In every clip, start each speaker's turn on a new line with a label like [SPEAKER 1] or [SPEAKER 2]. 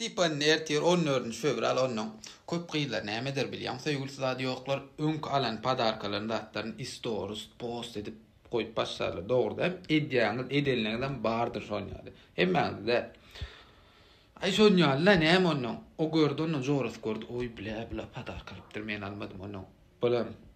[SPEAKER 1] Tipanini
[SPEAKER 2] ertir on dördünji fewral onnoň köp gyzlar näme eder bilýäň söýgülisi zady ýoklar öňki alan padarkalaryny zatlaryny istoris post edip goýup başlarlar dogryda edýäňiz edenleňizem bardyr şon ýaly hemmäňiz däl aý şon ýaly la näme onnoň o gördi onnoň jorasy gördi oý bla bla padarka alypdyr men almadym onnoň bolam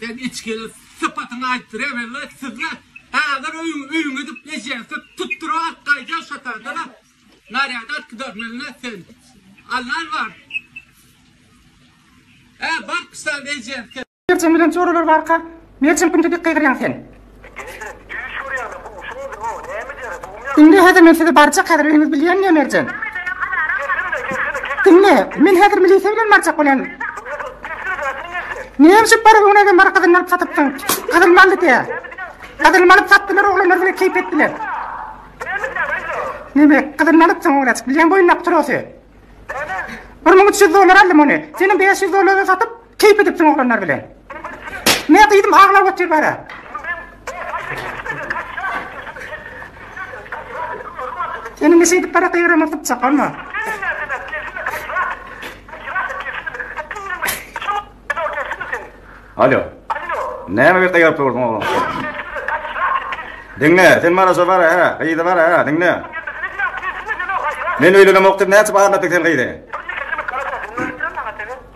[SPEAKER 3] Sen içgili sypatyňy aýt Rebella sizle hazir öýüň öýüň edip ejesip tutdyra at gaýda şatardyla narýad at gidar milne sen Allan bar Ä bak sen ejesip Merjen bilen çoralary
[SPEAKER 4] barka Merjen kimdi dik gygyrýaň sen. Diňle häzir men sizi barjak häzir öýüňiz bilýän diýen Merjen. Diňle men häzir milisiýa bilen barjak bolýan. Näme üçin para öňüne gelen para gazyny alyp satypdyň? Gazyny aldy diýä. Gazyny alyp satdylar oglanlar bilen keýp etdiler. Näme gazyny alyp soň oglaçyk bilýän boýundaky trosy. 1300 dollar aldym ony. Seniň 500 dollara satyp Keýp edipsiň oglanlar bilen. Ne gyzym aglap otyr bara. Ene ne şeýdip bara gygyryma sypjak bolma.
[SPEAKER 5] Alo. Näme bir gygyryp durduň oglan? Diňle, sen bara şo bara, ha, gyzy bara, ha, diňle. Men öýlenemok diýip näçe barlatdyk sen gyzy?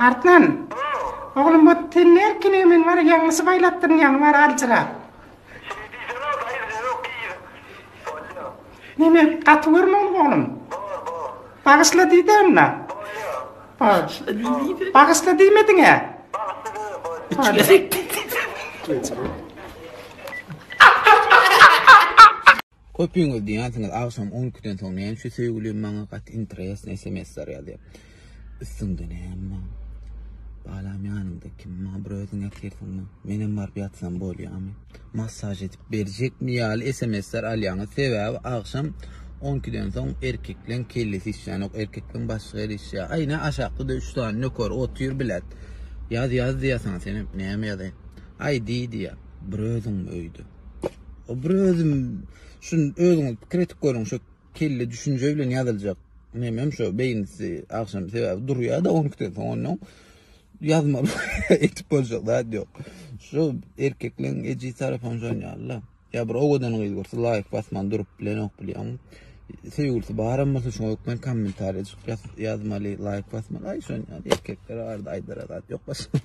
[SPEAKER 4] Artman. Oglum bu tenne erkinigi men bar ýaňlysy baýlatdyryn ýaňy bar aljyrap. Şeýdip diýsene daýy bize ýok diýýä. Bolýa. Neme gaty görmegiň oglum. Bor bor. Bagyşla diýde onda. Bolýa. Bor. Bagyşla diýmediňä. Bagyşla diýme
[SPEAKER 2] bolýa. Üç gezek diýdi. Köpüňiz diýýänsiňiz agşam on ikiden soň näme üçin söýgülim maňa gaty interesnyý smsler ýazýar. Üstüňde näme bar? Balam ýanyňda kim? Maňa bir özüň ýatyrsyňmy? Menem baryp ýatsam bolýarmy? Massaž edip berjekmi ýaly smsler alýaňyz. Sebäbi agşam on ikiden soň erkekleň kellesi işlänok, erkekleň başy ger işleýär. Aý ne aşakda-da üç sany nöker otyr bilet. Ýaz ýaz diýýär saňa senem näme ýazaýyn. Aý diý diýýär. Bir özüňmi öýde? Bir özüm şu özüňiz pikir edip görüň şu kelle düşünje bilen ýazyljak nemem şu beýnisi agşam sebäbi durýar-da 12-den soň ondan ýazmaly etip boljak zat ýok. Şu erkekleň eji tarapam şon ýaly. Ýa bir owadan gyz görse laýk basman durup bilenok bilýän. Söýgülisi baram bolsa şoňa hökmen kommentariýa ýazmaly, laýk basmaly. Aý şon ýaly erkekler arada aýdara zat ýok başga.